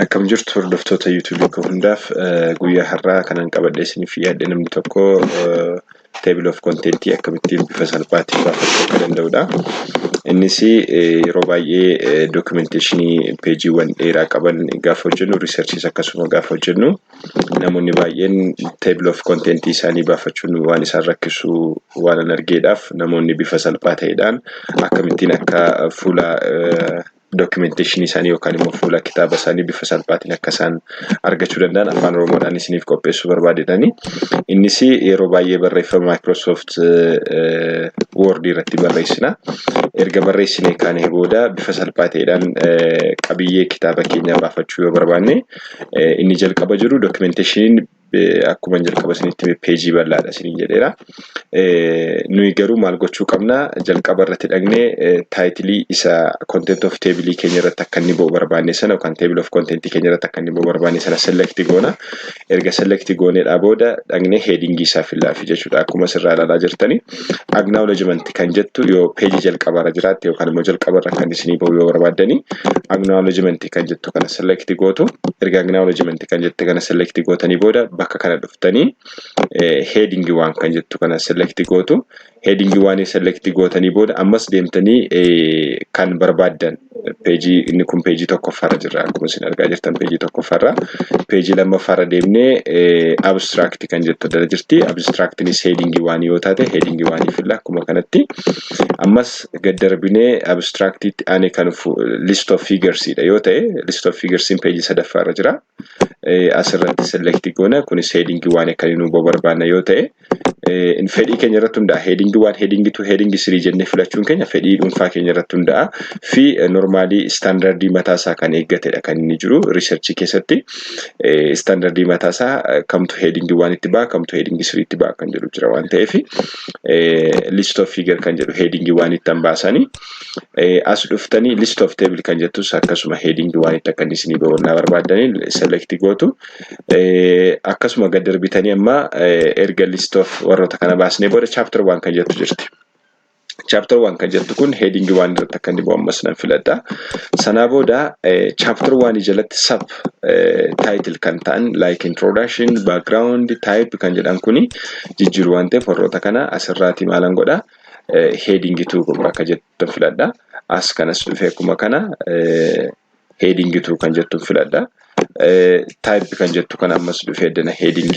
Akkam jirtu hordoftoota YouTube koo hundaaf guyyaa har'aa kanan qabadhee isiniif dhiyaadhe namni tokko table of content akkamittiin bifa salphaatiin baafachuu akka danda'udha. Innis yeroo baay'ee documentation peejiiwwan dheeraa qaban gaafa hojjennu researches akkasuma gaafa hojjennu namoonni baay'een table of content isaanii baafachuun waan isaan rakkisu waan an argeedhaaf namoonni bifa salphaa ta'eedhaan akkamittiin akka fuula documentation isaanii yookaan immoo fuula kitaaba isaanii bifa salphaatiin akka isaan argachuu danda'an afaan oromoodhaan isiniif qopheessuu barbaadedhani. Innis yeroo baay'ee barreeffama Microsoft Word irratti barreessina. Erga barreessinee kaanee booda bifa salphaa ta'eedhaan qabiyyee kitaaba keenyaa baafachuu yoo barbaanne inni jalqaba jiru documentation akkuma jalqaba isinitti hime peejii bal'aadha isiniin jedheera. Nuyi garuu maal gochuu qabna jalqaba irratti dhagnee taayitilii isa content of table keenya irratti akka inni ba'u barbaanne sana yookaan table of content keenya irratti akka inni ba'u barbaanne sana select goona. Erga select gooneedhaa booda dhagnee heading isaa fillaafi jechuudha. Akkuma asirraa ilaalaa jirtanii. acknowledgement kan jettu yoo peejii jalqabaarra jiraatte yookaan immoo jalqabarra kan isinii bahu yoo barbaaddani acknowledgement kan jettu kana select gootu erga acknowledgement kan jette kana select gootanii booda bakka kana dhuftanii heading waan kan jettu kana select gootu heading waan select gootanii booda ammas deemtanii kan barbaaddan peejii inni kun peejii tokkoffaarra jirra akkuma isin argaa jirtan peejii tokkoffaarra peejii lammaffaarra deemnee abstract kan jettu dala jirti abstractni headingii waan yoo taate headingii waan filla akkuma kanatti ammas gad darbinee abstractitti ani kan list of figures dha yoo ta'e list of figures in peejii sadaffaarra jira asirratti select goona kunis headingii waan akkanii nu barbaanna yoo ta'e fedhii keenya irratti hundaa'a. Heading 1, heading 2, heading 3 jennee filachuun keenya fedhii dhuunfaa keenya irratti hundaa'a. Fi normaalii istaandardii mataa isaa kan eeggatedha kan inni jiru riisarchii keessatti istaandardii mataa isaa kamtu heading 1 itti ba'a kamtu heading 3 itti ba'a kan jedhu jira waan ta'eef list of figure kan jedhu heading 1 itti hambaasanii as dhuftanii list of table kan jettus akkasuma heading 1 itti akka inni isinii ba'u naa barbaadanii select gootu. akkasuma gad darbitanii amma erga list of warroota kana baasnee booda chapter waan kan jettu jirti. Chapter waan kan jettu kun heading waan irratti akka inni ammas nan filadha. Sanaa booda chapter waan jalatti sub title kan ta'an like introduction, background, type kan jedhan kuni jijjiiru waan ta'eef warroota kana asirraati maalan godha. heading tuu kun akka jettan filadha. As kanas dhufee akkuma kana heading to kan jettu filadha. Type kan jettu kan ammas dhufee dana heading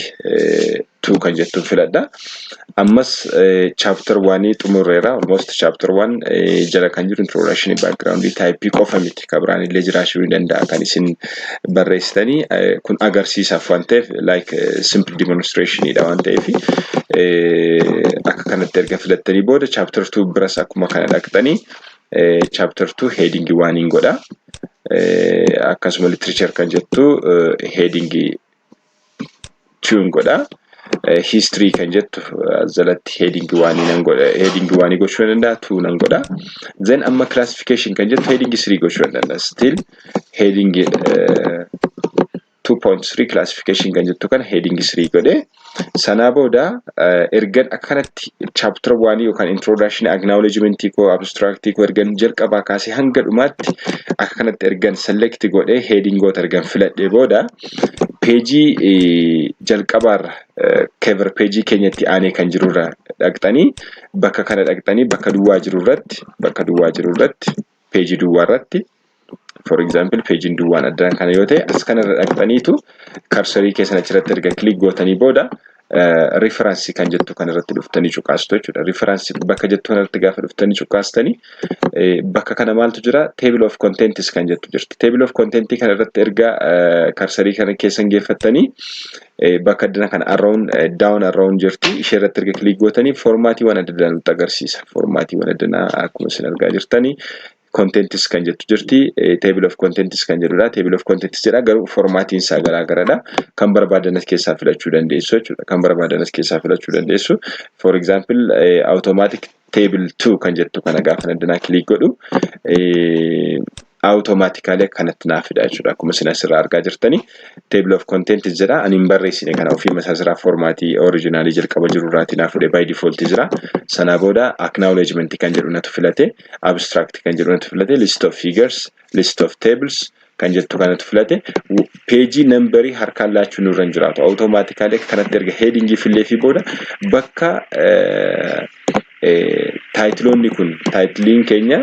to kan jettu filadha. Ammas chapter 1 xumurreera. Almost chapter 1 jala kan jiru introduction background type qofa miti. Kabiraan illee jiraachuu ni danda'a kan isin barreessitanii kun agarsiisaaf waan ta'eef like simple demonstration dha waan ta'eef akka kanatti erga filattanii booda chapter 2 biras akkuma kana dhaqxanii chapter 2 heading waan hin godha akkasuma literature kan jettu heading tune godha history kan jettu jalatti heading waan hin godha heading waan gochuu danda'a two nan godha then amma classification kan jettu heading 3 gochuu danda'a still heading 2.3 classification kan jettu kana heading 3 godhe sanaa booda ergan akkanatti chapter 1 yookaan introduction acknowledgement koo abstract koo ergan jalqabaa kaasee hanga dhumaatti akka kanatti ergan select godhe headingoota ergan filadhee booda peejii jalqabaarra cover peejii keenyatti aanee kan jirurra dhaqxanii bakka kana dhaqxanii bakka duwwaa jirurratti bakka duwwaa jirurratti peejii duwwaa irratti for example peejiin duwwaan addaan kana yoo ta'e as kana irra dhaqxaniitu karsarii keessan achirratti erga kilik gootanii booda riferansi kan jettu kan irratti dhuftanii cuqaastu jechuudha. Riferansi bakka jettu kan irratti gaafa dhuftanii cuqaastanii bakka kana maaltu jira table of contents kan jettu jirti. Table of contents kan irratti erga karsarii kana keessan geeffattanii bakka addana kana arrown down arrown jirti ishee irratti erga kiliik gootanii formaatiiwwan adda addaa nutti agarsiisa formaatiiwwan addanaa akkuma isin argaa jirtanii contentis kan jettu jirti table of contentis kan jedhudha table of contentis jedha garuu formaatiin isaa garaa garadha kan barbaadan as keessaa filachuu dandeessu jechuudha kan barbaadan as keessaa filachuu dandeessu for example automatic table 2 kan jettu kana gaafa dandanaa kiliik godhu awutomaatikaalee kanatti naa fida jechuudha. Akkuma isin asirraa argaa jirtani table of content jira. Ani hin barreessine kana ofii masaa jiraa foormaatii oriijinaalii jalqaba jiru irraatii naa fuudhe by default jira. Sanaa booda acknowledgement kan jedhu natu filate abstract kan jedhu natu filate list of figures list of tables kan jettu kanatu filate peejii nambarii harkaan laachuu nurra hin jiraatu awutomaatikaalee kanatti erga heedingii fillee fi booda bakka taayitiloonni kun taayitiliin keenya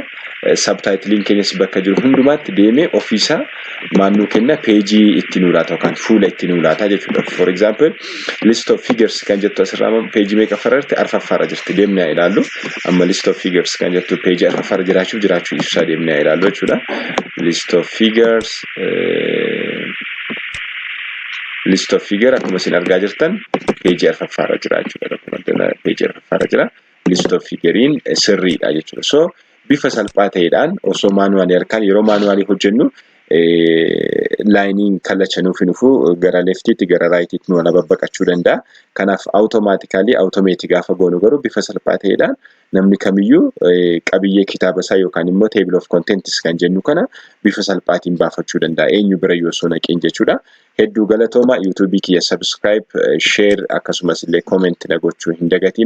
sabtaayitiliin keenyas bakka jiru hundumaatti deemee ofiisaa maannuu kenna peejii itti nuu laata yookaan fuula itti nuu laata jechuudha for example List of figures kan jettu asirraa amma peejii meeqa fararti arfaffaarra jirti deemnee haa ilaallu amma list of figures kan jettu peejii arfaffaarra jiraachuuf jiraachuu ibsaa deemnee haa ilaallu jechuudha list of figures list of figure akkuma isin argaa jirtan peejii arfaffaarra jira jechuudha peejii arfaffaarra jira. List of figure'n sirriidha jechuudha. So bifa salphaa ta'eedhaan osoo maanuwaalii harkaan yeroo maanuwaalii hojjennu laayiniin kallacha nuuf hin dhufu gara leftiitti gara raayitiitti nu ala babbaqachuu danda'a. Kanaaf awutomaatikaalii awutomeetii gaafa goonu garuu bifa salphaa ta'eedhaan namni kamiyyuu qabiyyee kitaaba isaa yookaan immoo table of contents kan jennu kana bifa salphaatiin baafachuu danda'a. Eenyu bira yoo osoo naqeen jechuudha. Hedduu galatooma YouTube kiyya subscribe, share akkasumas illee comment na gochuu hin dagatiin.